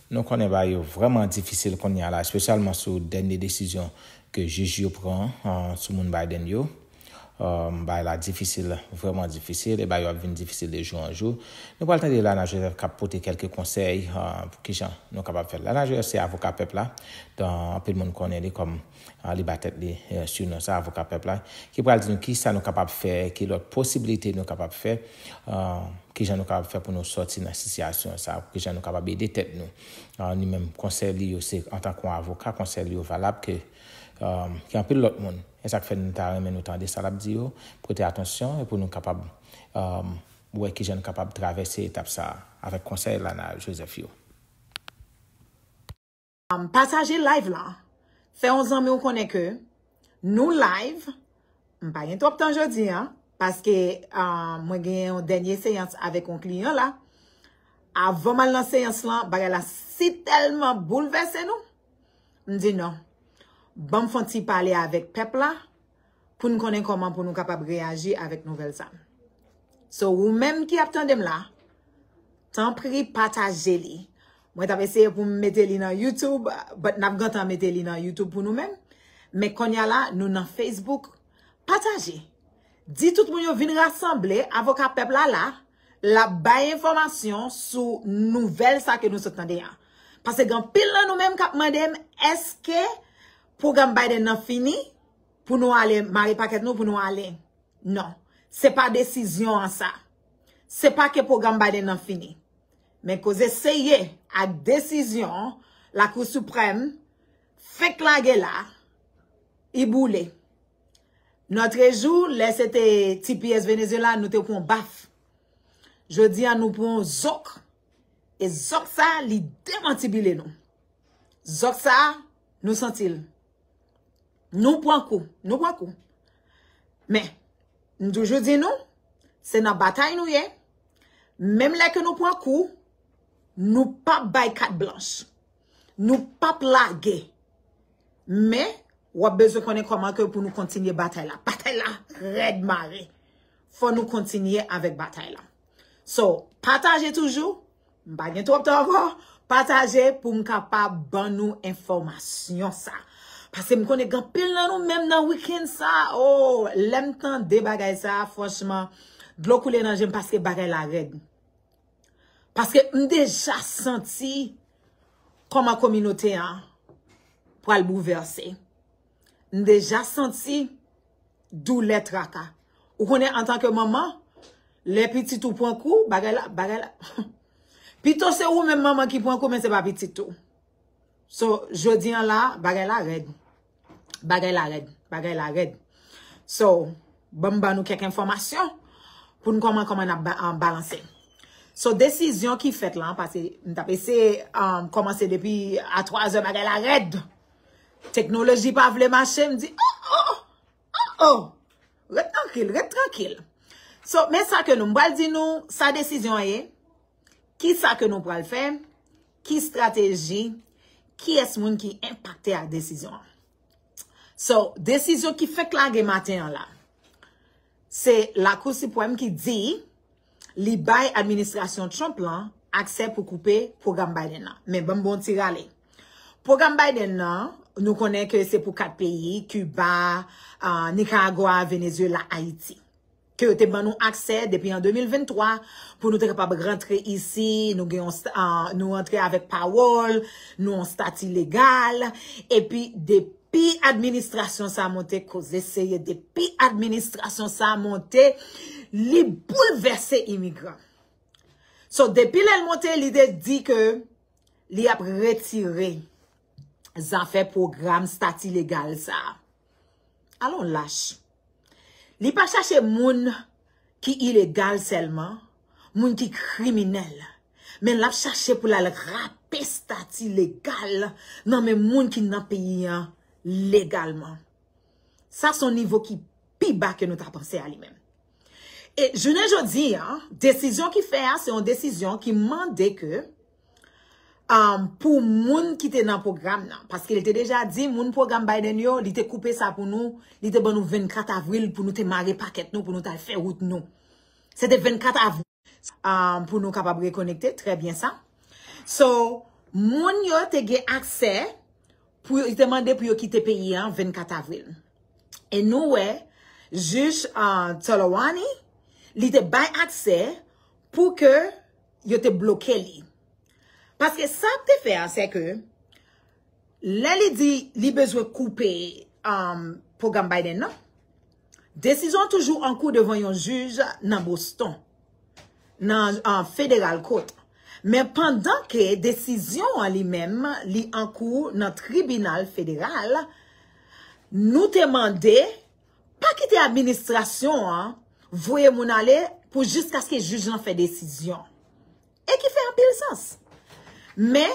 Nou konnen bagay yo vrèman difisil kounye a la, espesyalman sou dènye desizyon ke jij yo pran sou moun Biden yo. Bagay la difisil, vrèman difisil, e bagay yo ap vin difisil de jou an jou. Nou pral tande Lana Joseph k ap pote kèlke konsèy pou kijan nou kapab fè l. Lana Joseph se avoka pèp la, anpil moun konnen li kòm. li ba tèt li su non sa avoka pèp la ki pral di nou ki sa nou kapab fè ki lòt posibilite nou kapab fè ki jan nou kapab fè pou nou sòti nan sitiyasyon sa ki jan nou kapab ede tèt nou ni menm konsèy li yo se antan kon avoka konsèy li yo valab ke ki anpil lòt moun e sak fè nou ta renmen nou tande sa lap di yo pote atansyon e pou nou kapab wè ki jan nou kapab travèse etap sa avèk konsèy Lana Joseph yo. Pataje live la. Fè yon zanmi w konnen ke nou live. M pa gen twòp tan jodi a. Paske mwen gen yon dènye seyans avèk yon kliyan la. Avan m al nan seyans la, bagay la si tèlman boulvèse nou. M di non. Banm fon ti pale avèk pèp la. pou n konnen kòman pou nou kapab reyaji avèk nouvèl sa. So ou menm ki ap tande m la, tanpri pataje li. Mwen t ap eseye pou m mete li nan YouTube, but n ap gentan mete li nan YouTube pou nou menm. Men konnya la, nou nan Facebook. Pataje! Di tout moun yo vin rasanble, avoka pèp la la, l ap bay enfòmasyon sou nouvèl sa ke nou sot tande a. Pase gen anpil nan nou menm k ap mande m, èske. Pwogram Biden nan fini pou nou ale mare pakèt nou pou nou ale. Non. Se pa desizyon an sa. Se pa ke pwogram Biden nan fini. Men koze se ye ak desizyon Lakou Siprèm fenk lage la, li boule. Nòtrejou, lè se te tps Venezyela, nou te pran yon baf. Jodi a nou pran yon zòk. E zòk sa li demantibile nou. Zòt sa a, nou santi l. Nou pran kou. Nou pran kou. Men, m toujou di nou, se nan batay nou ye, menm lè ke nou pran kou, nou pa bay kat blanch. Nou pa p lage. Men, w ap bezwen konnen kòman ke pou nou kontinye batay la. Batay la rèd mare. Fò nou kontinye avèk batay la. So, pataje toujou. M pa gen twòp tan ankò. Pataje pou m kapab ban nou enfòmasyon sa. Pase m konnen gen pil nan nou menm nan wikenn sa. Oh, lè m tande bagay sa, franchman, dlo koule nan je m paske bagay la rèd. Paske m deja santi kòman kominote an pral bouvèse. M deja santi doulè traka. Ou konnen antan ke manman, lè pitit ou pran kou, bagay la, bagay la. Pito se ou menm manman ki pran kou men se pa pitit ou. So, jodi an la, bagay la rèd. Bagay la rèd. Bagay la rèd. So, banm ban nou kèk enfòmasyon pou nou koman koman nap balanse. So, desizyon ki fèt lan, pase m tap eseye komanse depi a 3 zè bagay la rèd. Teknoloji pa vle mache, m di, oh, oh, oh, oh, ret trankil, ret trankil. So, men sa ke nou, m pral di nou, sa desizyon an ye, ki sa ke nou pral fè, ki strateji, ki es moun ki enpakte ak desizyon an. So, desizyon ki fèk lage maten an la. Se Lakou Sipwèm ki di li bay administrasyon Trump lan aksè pou koupe pwogram Biden nan. Men banm bon ti rale. Pwogram Biden nan, nou konnen ke se pou 4 peyi, Kiba, Nikaragwa, Venezyela, Ayiti. Ke yo te ban nou aksè depi an 2023 pou nou te kapab rantre isi, nou gen yon, nou rantre avèk pawòl, nou yon stati legal, epi depi. Pi administrasyon sa monte koze seye de pi administrasyon sa monte li boul vese imigran. So depi lèl monte li de di ke li ap retire zafè program stati legal sa. Alon lach. Li pa chache moun ki ilegal sèlman, moun ki kriminèl. Men lap chache pou l al rape stati legal nan men moun ki nan peyi an legalman. Sa son nivo ki pi ba ke nou ta panse a li menm. E jounen jodi, desizyon ki fè a se yon desizyon ki mande ke pou moun ki te nan pwogram nan. Paske li te deja di, moun pwogram Biden yo, li te koupe sa pou nou, li te ban nou 24 avril pou nou te mare pakèt nou, pou nou tal fè wout nou. Se te 24 avril pou nou kapab rekonekte, trè byen sa. So, moun yo te gen aksè, pou yo te mande pou yo kite peyi an 24 avril. E nou wè, jij Tolawani, li te bay aksè pou ke yo te bloke li. Paske sa ap te fè a, se ke, lè li di li bezwen koupe um, pwogram Biden nan, desizyon toujou an kou devan yon jij nan Boston, nan um, Federal Court. Men pandan ke desizyon an li menm, li an kou nan tribinal federal, nou te mande, Pa kite administrasyon an voye moun ale pou jiskaske jij lan fè desizyon. E ki fè anpil sans. Men,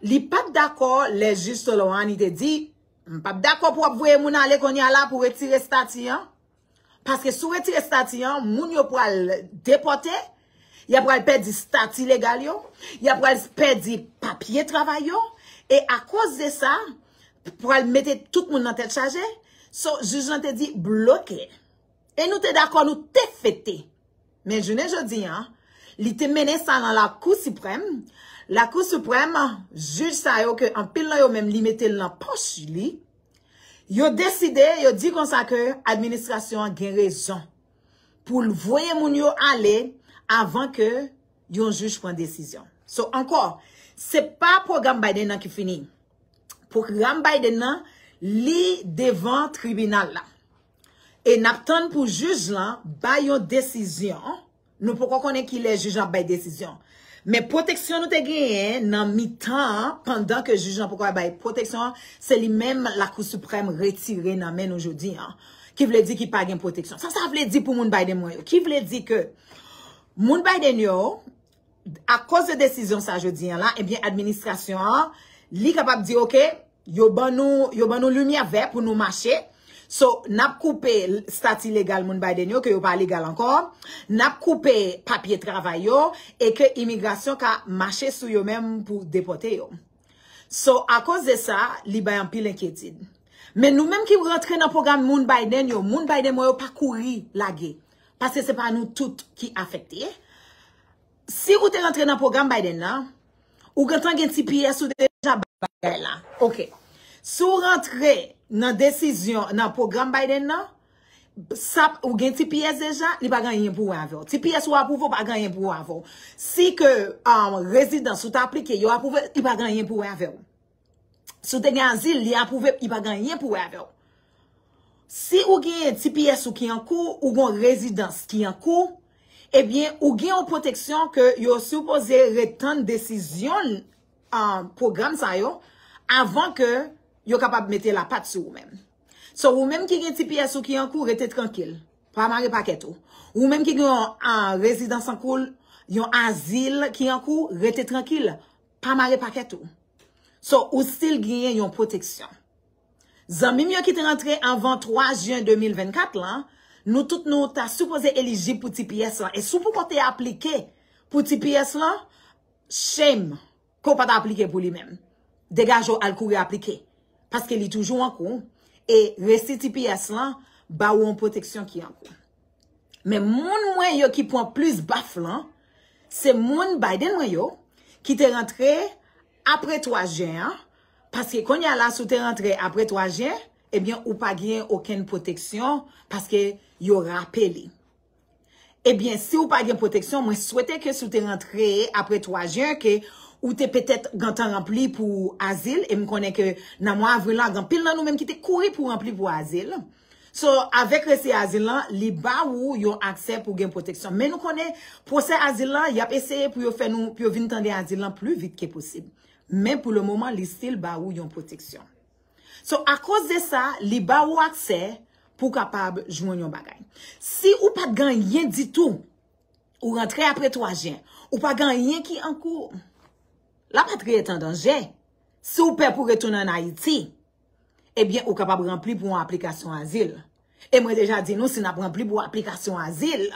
li pa t dakò lè jij Solohani te di, M pa p dakò pou w ap voye moun ale kounye a la pou retire estati an. Paske si w retire estati an, moun yo pral depòte Y ap pral pèdi stati legal yo, y ap pral pèdi papye travay yo, e akoz de sa, pral mete tout moun nan tèt chaje, so jij lan te di bloke. E nou te dakò nou te fete. Men jounen jodi an, li te mennen sa nan lakou siprèm, lakou siprèm, jij sa yo ke anpil nan yo menm li mete l nan pòch li, yo deside, yo di konsa ke administrasyon an gen rezon. pou l voye moun yo ale avan ke yon jij pran desizyon. So, ankò, se pa pwogram Biden nan ki fini. Pwogram Biden nan, li devan tribinal la. E n ap tann pou jij lan bay yon desizyon. Nou poko konnen ki lè jij lan ap bay desizyon an. Men pwoteksyon nou te genyen nan mitan an, pandan ke jij lan poko al bay pwoteksyon an, se li menm Lakou Siprèm retire nan men nou jodi an. Ki vle di ki pa gen pwoteksyon. Sa sa vle di pou moun Biden mwen yo? Ki vle di ke moun Biden yo, akoz de desizyon sa jodi an la, ebyen administrasyon an, li kapab di ok, Yo ban nou, yo ban nou limyè vè pou nou mache. So, nap koupe stati legal moun Biden yo ke yo pa legal ankò. Nap koupe papye travay yo e ke imigrasyon ka mache sou yo menm pou depote yo. So, akoz de sa, li bay anpil enkyetid. Men nou menm ki rantre nan pwogram moun Biden yo, moun Biden mwen yo pa kouri lage. Paske se pa nou tout ki afekte. Si ou te rantre nan pwogram Biden nan, ou gentan gen tps ou deja bagay la. Ok. Si ou rantre nan desizyon nan pwogram Biden nan, sa ou gen tps deja, li pa gen anyen pou wè avè w. Tps ou apwouve ou pa gen anyen pou wè avè w. Si ke rezidans ou te aplike yo apwouve, li pa gen anyen pou wè avè w. Si w te gen azil, li apwouve, li pa gen anyen pou wè avè w. Si ou gen tps ou ki an kou, ou gen yon rezidans ki an kou, ebyen ou gen yon pwoteksyon ke yo sipoze ret tann desizyon pwogram sa yo avan ke yo kapab mete lapat sou ou menm. So ou menm ki gen tps ou ki an kou, rete trankil. Pa mare pakèt ou. Ou menm ki gen yon rezidans an kou, yon azil ki an kou, rete trankil. pa mare pakèt ou. So, ou still gnyen yon pwoteksyon. Zanmi m yo ki te rantre anvan 3 jen 2024 lan, nou tout nou ta sipoze elijib pou tps lan. E si w poko te aplike pou tps lan, shame ke w pa ta aplike pou li menm. Degaje w al kouri aplike. Paske li toujou an kou. E resi tps lan ba ou yon pwoteksyon ki an kou. Men moun mwen yo ki pwan plis baf lan, se moun Biden mwen yo, ki te rantre apre 3 jen an, paske kounye a la si w te rantre apre 3 jen, ebyen ou pa gen okenn pwoteksyon, paske yo rape li. Ebyen si w pa gen pwoteksyon, mwen swete ke si w te rantre apre 3 jen, ke ou te petèt gentan ranpli pou azil, e m konnen ke nan mwa avril la, gen anpil nan nou menm ki te kouri pou ranpli pou azil, So, avèk resi azil lan, li ba ou yon aksè pou gen pwoteksyon. Men nou konnen, pwosè azil lan, y ap eseye pou yo fè nou, pou yo vin tande azil lan pli vit ke posib. Men pou le moman, li stil ba ou yon pwoteksyon. So, akoz de sa, li ba ou aksè pou w kapab jwenn yon bagay. Si ou pa t gen anyen ditou, ou rantre apre 3 jen, ou pa gen anyen ki an kou, lapatri est en danger, si ou pè pou retounen an Ayiti, Ebyen ou kapab ranpli pou yon aplikasyon azil. E mwen deja di nou si nap ranpli pou aplikasyon azil,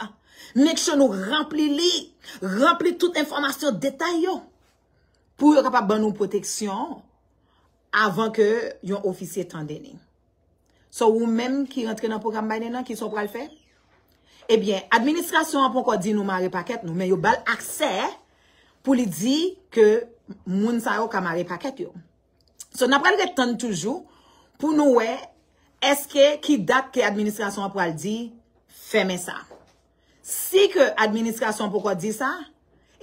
make sure nou ranpli li, ranpli tout enfòmasyon detay yo pou yo kapab ban nou pwoteksyon avan ke yon ofisye tande ni. So ou menm ki rantre nan pwogram Biden nan, kisa ou pral fè? Ebyen, administrasyon an ponkò di nou mare pakèt nou, men yo bal aksè pou li di ke moun sa yo ka mare pakèt yo. So n ap pral ret tann toujou pou nou wè èske ki dat ke administrasyon an pral di fèmen sa. Si ke administrasyon an poko di sa,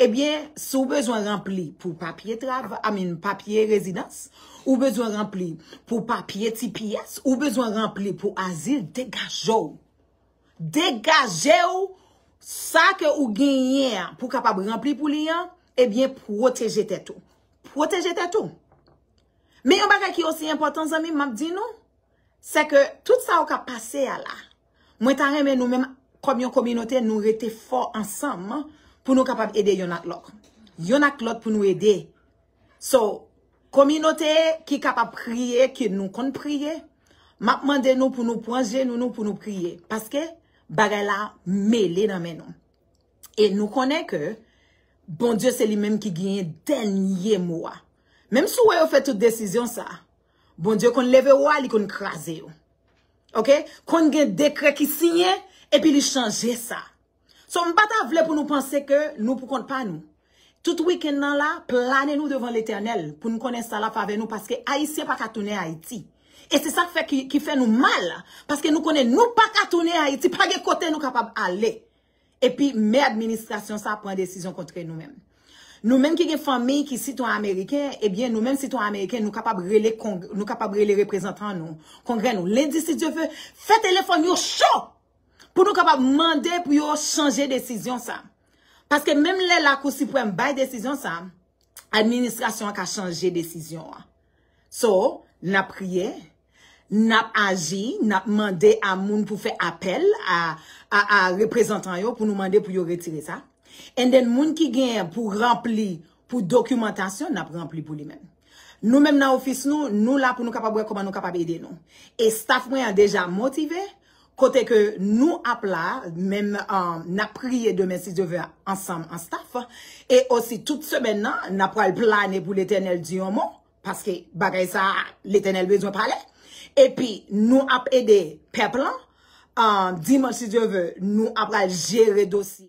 ebyen si w bezwen ranpli pou papye trava, I mean papye rezidans, ou bezwen ranpli pou papye tps, ou bezwen ranpli pou azil, degaje w. Degaje w sa ke ou genyen an pou kapab ranpli pou li an, ebyen pwoteje tèt ou. Pwoteje tèt ou. Men yon bagay ki osi enpòtan zanmi m map di nou, se ke tout sa yo kap pase a la, mwen ta renmen nou menm kòm yon kominote nou rete fò ansanm pou nou kapab ede yonn ak lòk. Yonn ak lòt pou nou ede. So, kominote ki kapab priye, ke nou konn priye, map mande nou pou nou pwan jenou nou pou nou priye. Paske, bagay la mele nan men nou. E nou konnen ke, Bondye se li menm ki genyen dènye mo a. Menm si w wè yo fè tout desizyon sa, Bondye konn leve wa, li konn kraze yo. Ok? Konn gen dekrè ki siyen, epi li chanje sa. So m pa ta vle pou nou panse ke nou pou kont pa nou. Tout weekend nan la, plane nou devan Letènèl pou nou konnen sa l ap avè nou paske Ayisyen pa ka tounen Ayiti. E se sa k fè ki fè nou mal paske nou konnen nou pa ka tounen Ayiti, pa gen kote nou kapab ale. Epi mè administrasyon sa pran desizyon kontre nou menm. Nou menm ki gen fanmi ki sitwen ameriken, ebyen nou menm sitwen ameriken nou kapab rele kong, nou kapab rele reprezantan nou, kongrè nou, lendi si Dye ve, fè telefòn yo cho! Pou nou kapab mande pou yo chanje desizyon sa. Paske menm lè lakou siprèm bay desizyon sa, administrasyon an ka chanje desizyon an. So, n ap priye, n ap aji, n ap mande a moun pou fè apèl a reprezantan yo pou nou mande pou yo retire sa. And then moun ki gen pou ranpli pou dokimantasyon, n ap ranpli pou li menm. Nou menm nan ofis nou, nou la pou nou kapab wè kòman nou kapab ede nou. E staff mwen an deja motive. Kote ke nou ap la, menm n ap priye demen si Dye ve ansanm an staf, e osi tout semèn nan n ap pral plane pou Letènèl di yon mo, paske bagay sa a Letènèl bezwen pale, epi nou ap ede pèp lan, dimanch si Dye ve nou ap pral jere dosye.